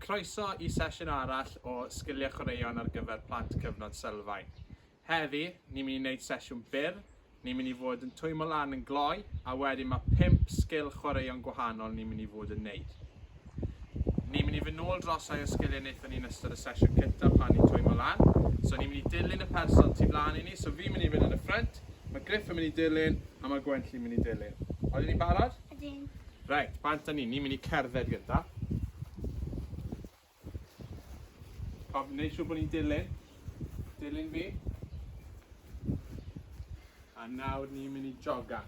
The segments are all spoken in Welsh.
Croeso i sesiwn arall o Sgiliau Chwaraeon ar gyfer Plant Cyfnod Sylfaen. Heddi, ni'n mynd i wneud sesiwn byr, ni'n mynd i fod yn twymo lan yn gloi, a wedyn mae pump sgil chwaraeon gwahanol ni'n mynd i fod yn wneud. Ni'n mynd i fynd nôl dros rhai o'r sgiliau wnaethon ni yn ystod y sesiwn cynta pan ni'n twymo lan. So ni'n mynd i dilyn y person tu flan i ni, so fi'n mynd i fynd yn y ffrynt, ma' Griff yn mynd i dilyn, a ma' Gwenlli'n mynd i dilyn. Odyn ni'n barod? Ydyn. Reit, bant â ni, ni'n mynd i cerdded gynta. Cof, neud siŵr bod ni'n dilyn. Dilyn fi. A nawr ni'n mynd i jogan.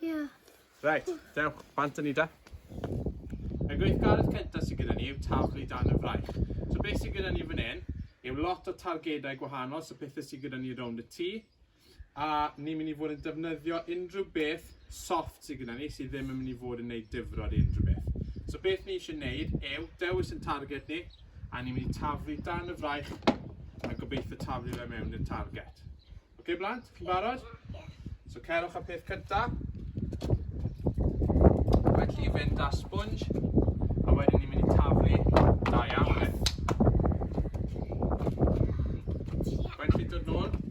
Ie. Reit, dewch, bant â ni de. Y gweithgaredd cyntaf sydd gyda ni yw taflu dan y fraich. So beth sydd gyda ni fan hyn yw lot o targedau gwahanol, so pethau sydd gyda ni rownd y tŷ, a ni'n mynd i fod yn defnyddio unrhyw beth soft sydd gyda ni sydd ddim yn mynd i fod yn gwneud difrod i unrhyw beth. So beth ni eisiau gwneud yw dewis yn target ni, a ni'n mynd i taflu dan y fraich a gobeithio taflu fe mewn i'r target. Ok blant, chi'n barod? So cerwch y peth cynta. Mae chi fynd da sponge, a wedyn ni'n mynd i taflu da iawn e. Mae'n chi dod nôl?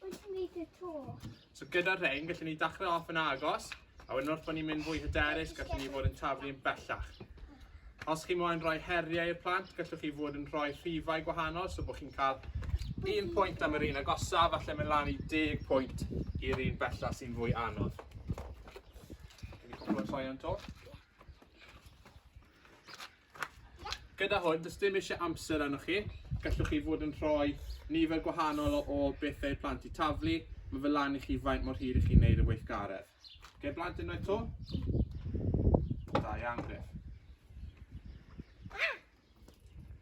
Wyt ti'n neud y to? So gyda'r rhain, gallwn ni dachrau off yn agos, a wedyn wrth bod ni'n mynd fwy hyderus, gallwn ni fod yn taflu yn bellach. Os chi moyn rhoi heriau i'r plant, gallwch chi fod yn rhoi rhifau gwahanol, so bod chi'n cael un pwynt am yr un agosaf, falle mynd lan i 10 pwynt i'r un bellach sy'n fwy anodd. Wedi cwpl o troion to. Gyda hwn, does dim eisiau amser arnoch chi. Gallwch chi fod yn rhoi nifer gwahanol o bethau i'r plant i taflu. Mae fel lan i chi faint mor hir i chi'n neud y weithgaredd. Gai blant unwaith to? Da iawn, Griff.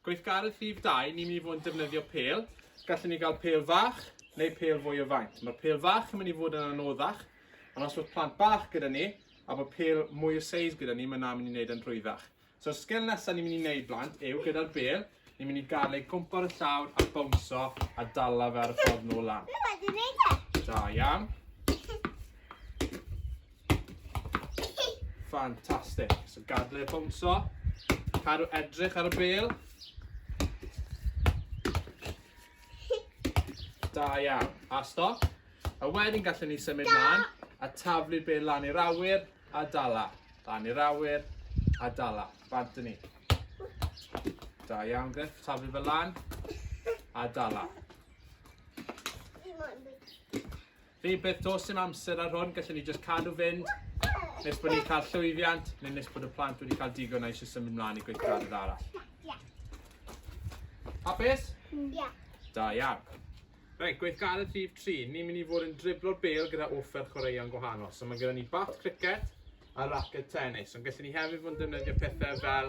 Gweithgaredd rhif dau, ni'n mynd i fod yn defnyddio pêl. Gallwn ni gael pêl fach neu pêl fwy o faint. Mae'r pêl fach yn mynd i fod yn anoddach, ond os bod plant bach gyda ni, a bod pêl mwy o seis gyda ni, mae yna mynd i wneud yn rhwyddach. So'r sgil nesaf ni'n mynd i wneud blant yw gyda'r bêl, ni'n mynd i gael ei gwmpa ar y llawr a bownso a dala fe ar y ffordd nôl lan. Da iawn. Fantastic. So gadle e bownso. Cadw edrych ar y bel. Da iawn. A stop. A wedyn gallwn ni symud lan a taflu'r bel lan i'r awyr a dala. Lan i'r awyr a dala. Bant ni. Da iawn, Griff. Taflu fel lan a dala. Rhywbeth does dim amser ar hwn, gallwn ni jyst cadw fynd nes bod ni'n cael llwyddiant neu nes bod y plant wedi cael digon a eisiau symud mlaen i gweithgarydd arall. Hapus? Ie. Da iawn. Reit, gweithgaredd rhif 3. Ni'n mynd i fod yn driblo'r bêl gyda offer chwaraeon gwahanol. So mae gyda ni bat cricet a raced tennis. Ond gallwn ni hefyd fod yn defnyddio pethau fel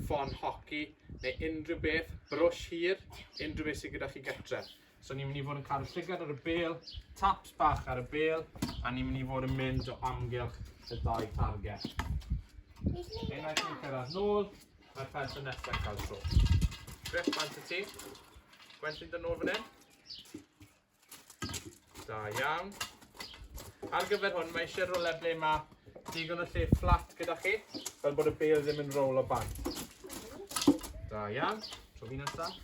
ffon hoci neu unrhyw beth, brwsh hir, unrhyw beth sydd gyda chi gytre. So ni'n mynd i fod yn cael y llygad ar y bel, taps bach ar y bel, a ni'n mynd i fod yn mynd o amgylch y dau target. Unwaith ni'n cyrraedd nôl, mae'r person nesaf yn cael tro. Griff, pan ti ti? Gwen ti'n dod nôl fan hyn? Da iawn. Ar gyfer hwn, mae eisiau rolau ble mae digon o lle fflat gyda chi, fel bod y bel ddim yn roll o bant. Da iawn. Tro fi nesaf.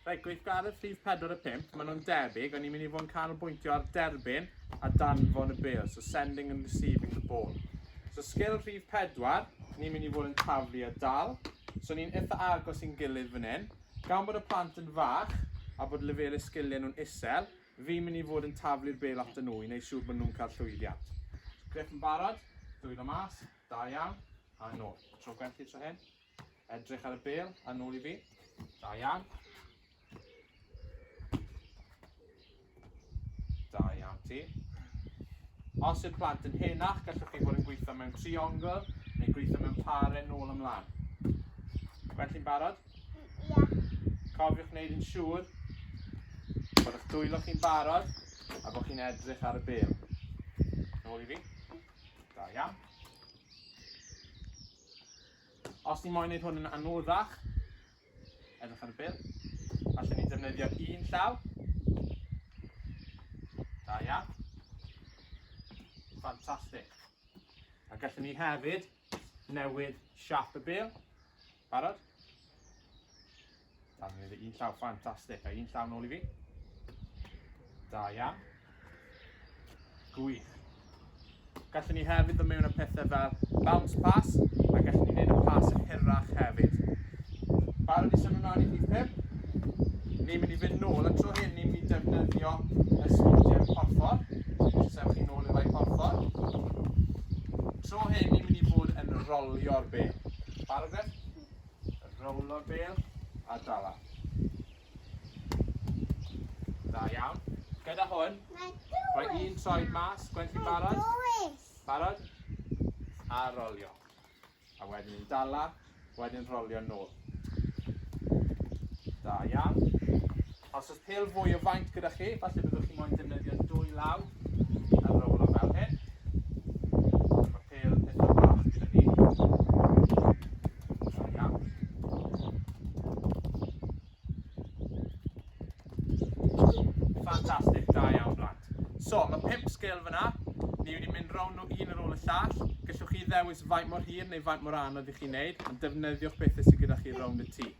Reit, gweithgaredd rhif 4 a 5, maen nhw'n debyg, ond ni'n mynd i fod yn canolbwyntio ar derbyn a danfon y bel, so sending and receiving the ball. So sgil rhif 4, ni'n mynd i fod yn taflu a dal, so ni'n eitha agos i'n gilydd fan hyn. Gan bod y plant yn fach a bod lefelau sgiliau nhw'n isel, fi'n mynd i fod yn taflu'r bel at nhw i wneud siŵr bod nhw'n cael llwyddiant. Griff yn barod, dwylo mas, da iawn, a nôl. Tro gwerthu tro hyn. Edrych ar y bel a nôl i fi. Da iawn. Da iawn ti. Os yw'r plant yn henach, gallwch chi fod yn gweithio mewn triongl neu gweithio mewn pare nôl ymlaen. Gwen, chi'n barod? Ia. Cofiwch wneud yn siŵr bod eich dwylo chi'n barod a bod chi'n edrych ar y bel. Nôl i fi. Da iawn. Os ni moyn neud hwn yn anoddach, edrych ar y bil, allwn ni defnyddio un llaw. Da iawn. Fantastic. A gallwn ni hefyd newid siap y bil. Barod? Da, mae un llaw ffantastig, a un llaw nôl i fi. Da iawn. Gwych. Gallwn ni hefyd ddod mewn y pethau fel bounce pass, a gallwn ni wneud y pass yn hirach hefyd. Barod i symud mlaen i rhif 5. Ni'n mynd i fynd nôl, y tro hyn ni'n mynd i defnyddio y sgwtiau porffor. Sef chi nôl i'r rai porffor. Tro hyn ni'n mynd i fod yn rolio'r be. Barod beth? Rowlo bêl a dala. Dda iawn. Gyda hwn, rhoi un troed mas, gwen chi'n barod? Barod? A rolio. A wedyn yn dala, wedyn rolio nôl. Da iawn. Os oes pêl fwy o faint gyda chi, falle byddwch chi moyn defnyddio dwy law ar yr ola fel hyn. Ond mae pêl eitha bach gyda fi. Da iawn. Fantastic, da iawn blant. So, mae pimp sgil fyna. Ni wedi mynd rown nhw un ar ôl y llall. Gallwch chi ddewis faint mor hir neu faint mor anodd i chi wneud, ond defnyddiwch bethau sydd gyda chi rownd y tŷ.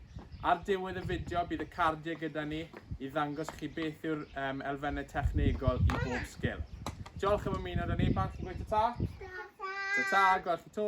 Ar diwedd y fideo bydd y cardiau gyda ni i ddangos chi beth yw'r um, elfennau technegol i bob sgil. Diolch am ymuno da ni, pan chi'n gweithio ta? Ta ta, gweld chi to.